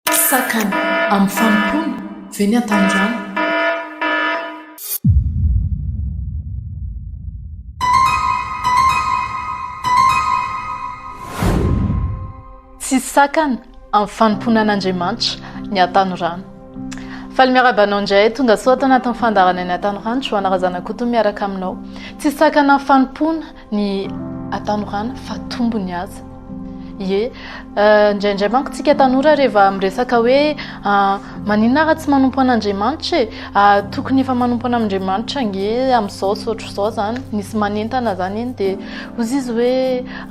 Sakana amin'ny fanompoana ve ny Antanirano? Tsy sakana amin'ny fanompoana an'Andriamanitra ny Antanirano. Faly miarahaba anao indray, tongasoa ato anatin'ny fandaharana ny Antanirano, Joana Razanakoto miaraka aminao. Tsy sakana amin'ny fanompoana. ny hatanorana fa tombony aza ie indraindray manko tsika tanora rehefa miresaka hoe ah, maninona ara tsy manompo an'andriamanitra e ah, tokony efa manompo an'andriamanitra nge amin'izao sotr'izao zany nisy manentana zany eny dia ozy izy hoe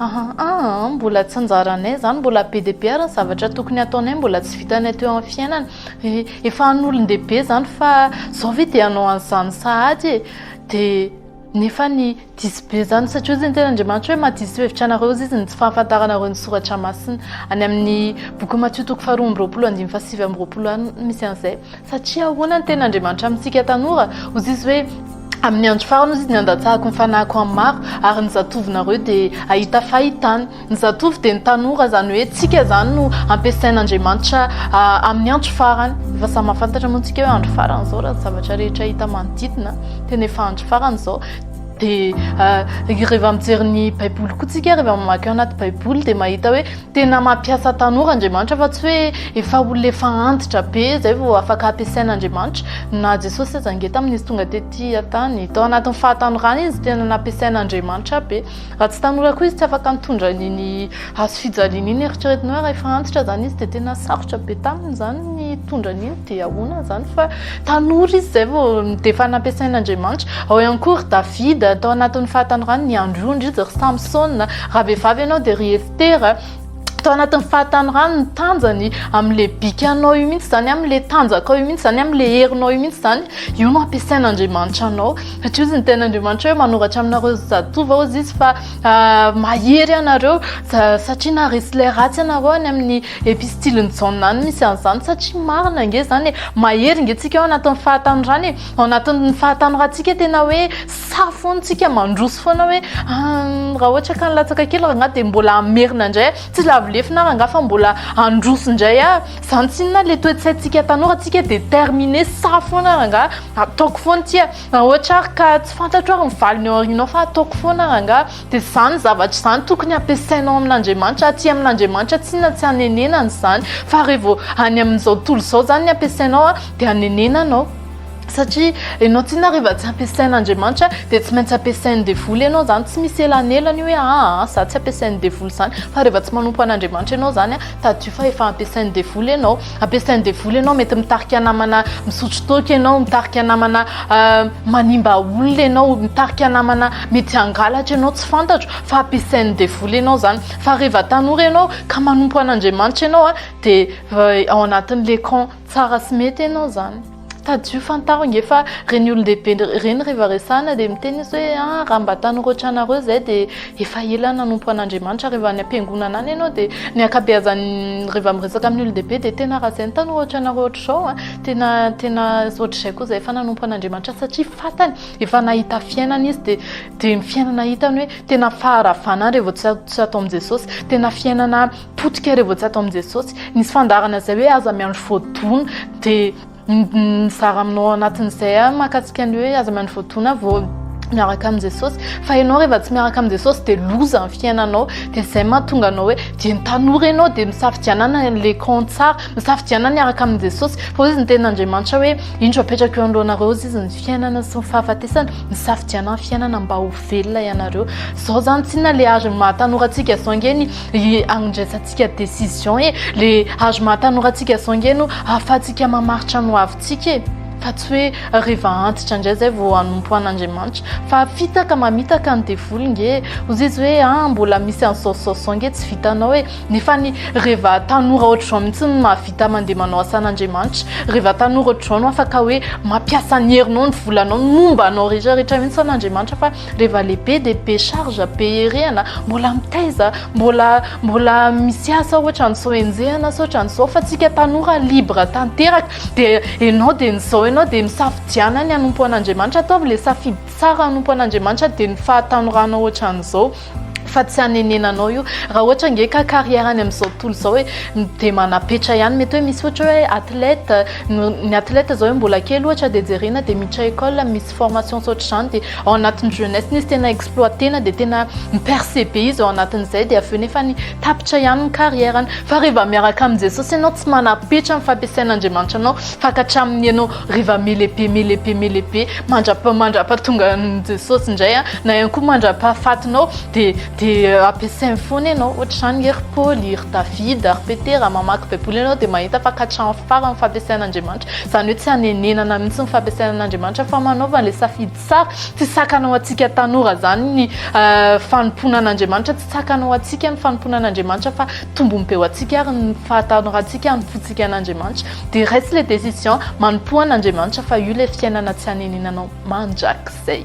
aha ah, mbola tsy anjaranay zany mbola be dia be ary ny zavatra tokony hataonay mbola tsy vitanay teo amin'ny fiainana eh, efa an'olon-dehibe zany fa zao ve dia hanao an'izany sahady e dia Nefa ny diso be izany satria hoy ny Tenin'Andriamanitra hoe madiso hevitra anareo hozy izy ny tsy fahafantaranareo ny soratra masina. Any amin'ny bokin'i Matio toko faharoa amby roapolo andininy fahasivy amby roapolo any no misy an'izay. Satria ahoana ny Tenin'Andriamanitra amintsika tanora? Hozy izy hoe Amin'ny andro farany hozy izy ny andatsahako ny fanahiko amin'ny maro ary ny zatovo nareo dia hahita fahitana. Ny zatovo dia ny tanora, izany hoe tsika izany no ampiasain'Andriamanitra amin'ny andro farany. Efa samy mahafantatra moa tsika hoe andro farany izao raha ny zavatra rehetra hita manodidina, tena efa andro farany izao. Dia rehefa mijery ny baiboly koa tsika, rehefa mamaky ao anaty baiboly dia mahita hoe tena mampiasa tanora Andriamanitra fa tsy hoe efa olona efa antitra be izay vao afaka ampiasain'Andriamanitra. Na Jesosy aza ange tamin'izy tonga tety an-tany, tao anatin'ny fahatanorany izy tena nampiasain'Andriamanitra be. Raha tsy tanora koa izy tsy afaka nitondra an'iny hazo fijaliana iny, eritreretiny hoe raha efa antitra izany izy dia tena sarotra be taminy izany ny hitondra an'iny dia ahoana izany fa tanora izy izay vao dia efa nampiasain'Andriamanitra. Ao ihany koa ry Davida tao anatin'ny fahatanorany niandry ondry izy, ry Samsona, raha vehivavy ianao dia ry Estera, Tao anatin'ny fahatanorany ny tanjany amin'ilay bikanao io mihitsy izany, amin'ilay tanjakao io mihitsy izany, amin'ilay herinao io mihitsy izany, io no ampiasain'Andriamanitra anao. Satria hoy ny tenin'Andriamanitra hoe manoratra aminareo zatovo aho hoy izy fa ah, mahery ianareo satria naharesy ilay ratsy ianareo any amin'ny epistilin'i Jaona any misy an'izany satria marina ange izany e. Mahery ange tsika ao anatin'ny fahatanorana e. Ao anatin'ny fahatanorana tsika tena hoe Tsara foana tsika mandroso foana hoe raha ohatra ka nilatsaka kely rangaha dia mbola hamerina indray aho, tsy lavo lefona aho rangaha fa mbola handroso indray aho. Izany tsy inona ilay toe-tsaintsika tanora tsika determine sy tsara foana rangaha, ataoko foana ity aho. Raha ohatra ary ka tsy fantatro ary ny valiny eo aorianao fa ataoko foana rangaha. Dia izany zavatra izany tokony hampiasainao amin'Andriamanitra, aty amin'Andriamanitra tsy inona tsy hanenenana izany fa raha vao any amin'izao tontolo izao izany ny hampiasainao dia hanenenana ao. satria ianao tsi na rehefa tsy ampiasain' Andriamanitra dia tsy maintsy ampiasain'ny devoly ianao izany, tsy misy elanelany hoe aa ah, ah, za tsy ampiasain'ny devoly izany, fa rehefa tsy manompo an' Andriamanitra ianao izany an, tadidio fa efa ampiasain'ny devoly ianao, ampiasain'ny devoly ianao, mety mitarika namana misotro toaka ianao, mitarika namana manimba olona ianao, mitarika namana mety hangalatra ianao tsy fantatro, fa ampiasain'ny devoly ianao izany, fa rehefa tanora ianao ka manompo an' Andriamanitra ianao an, dia ao anatin'ilay camp. Tsara sy mety enao izany. Tadidio fantaro nge fa reny olondehibe reny rehefa resahana dia miteny izy hoe a raha mba tano roatranareo izay dia efa ela nanompo an'Andriamanitra rehefa any am-piangonana any ianao dia ny akabeazan'ny rehefa miresaka amin'ny olondehibe dia tena raha izay ny tano roatranareo ohatr'izao a tena tena ohatr'izay koa izay efa nanompo an'Andriamanitra satria fantany efa nahita fiainana izy dia dia ny fiainana hitany hoe tena faharavana rehefa tsy atao amin'i Jesosy tena fiainana potika ireo voa tsy ato amin'i Jesosy. Nisy fandaharana izay hoe aza miandry voadona dia mizara aminao anatin'izay aho mahakasika ny hoe aza miandry voadona vao miaraka amin'i Jesosy fa ianao rehefa tsy miaraka amin'i Jesosy dia loza ny fiainanao dia izay mahatonga anao hoe dia ny tanora ianao dia misafidianana le camp tsara misafidianana miaraka amin'i Jesosy fa hoy izy ny tenin'Andriamanitra hoe indro apetrako eo anoloanareo izy ny fiainana sy ny fahafatesana misafidianana fiainana mba ho velona ianareo zao zany tsinona le âge maha tanora antsika zao nge ny agnondraisantsika décision e le âge maha tanora antsika zao nge no ahafahantsika mamaritra ny hoavintsika e fa tsy hoe rehefa antitra indray zay vao hanompoan'Andriamanitra fa fitaka mamitaka ny devoly nge ozizy hoe a mbola misy an'zao zao zao nge tsy vitanao e Nefa anie reva tanora ohatr'izao mihitsy no mahavita mandeha manao asan'Andriamanitra. Reva tanora ohatr'izao no afaka hoe mampiasa ny herinao, ny volanao, ny momba anao rehetra rehetra mihitsy zao n'Andriamanitra fa reva lehibe dia be charge, be herehana, mbola mitaiza, mbola mbola misy asa ohatran'izao enjehana asa ohatran'izao fa tsika tanora libre tanteraka dia enao dia ny zao enao dia misafidiana ny hanompo an'Andriamanitra ataovy le safidy tsara hanompo an'Andriamanitra dia ny fahatanoranao ohatran'izao. fa tsy hanenenanao io raha ohatra ange ka carrière any amin'izao tontolo izao hoe dia manapetra ihany mety hoe misy ohatra hoe athlète no ny athlète izao hoe mbola kely ohatra dia jerena dia miditra école misy formation tsy ohatr'izany dia ao anatin'ny jeunesse-ny izy tena exploiter-na dia tena mi-percer be izy ao anatin'izay dia avy eo nefa ny tapitra ihany ny carrière-ny fa rehefa miaraka amin'i Jesosy ianao tsy manapetra ny fampiasain'Andriamanitra anao fa ka hatramin'ny ianao Reva mile be mile be mile be mandrapa mandrapa tongan'ny Jesosy ndray a na ihany koa mandrapa fatinao de de ampiasainy foana ianao ohatr'izany nge ry Paoly ry Davida ry Petera mamaky baiboly ianao de mahita fa ka hatramin'ny farany fampiasain'Andriamanitra izany hoe tsy hanenenana mihitsy ny fampiasainan'Andriamanitra fa manaova le safidy Sa tsy sakana ho antsika tanora izany ny fanompoana an'Andriamanitra? Tsy sakana ho antsika ny fanompoana an'Andriamanitra fa tombony be ho antsika ary ny fahatanorantsika hanompoantsika an'Andriamanitra. Dia raiso ilay décision manompoa an'Andriamanitra fa io ilay fiainana tsy haneninanao mandrakizay.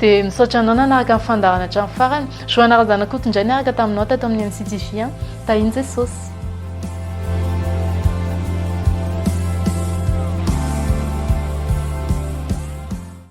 Dia misaotra anao nanaraka ny fandaharana hatramin'ny farany. Johanna Razanakoto indray niaraka taminao tato amin'ny NCTV. Tahian'i Jesosy.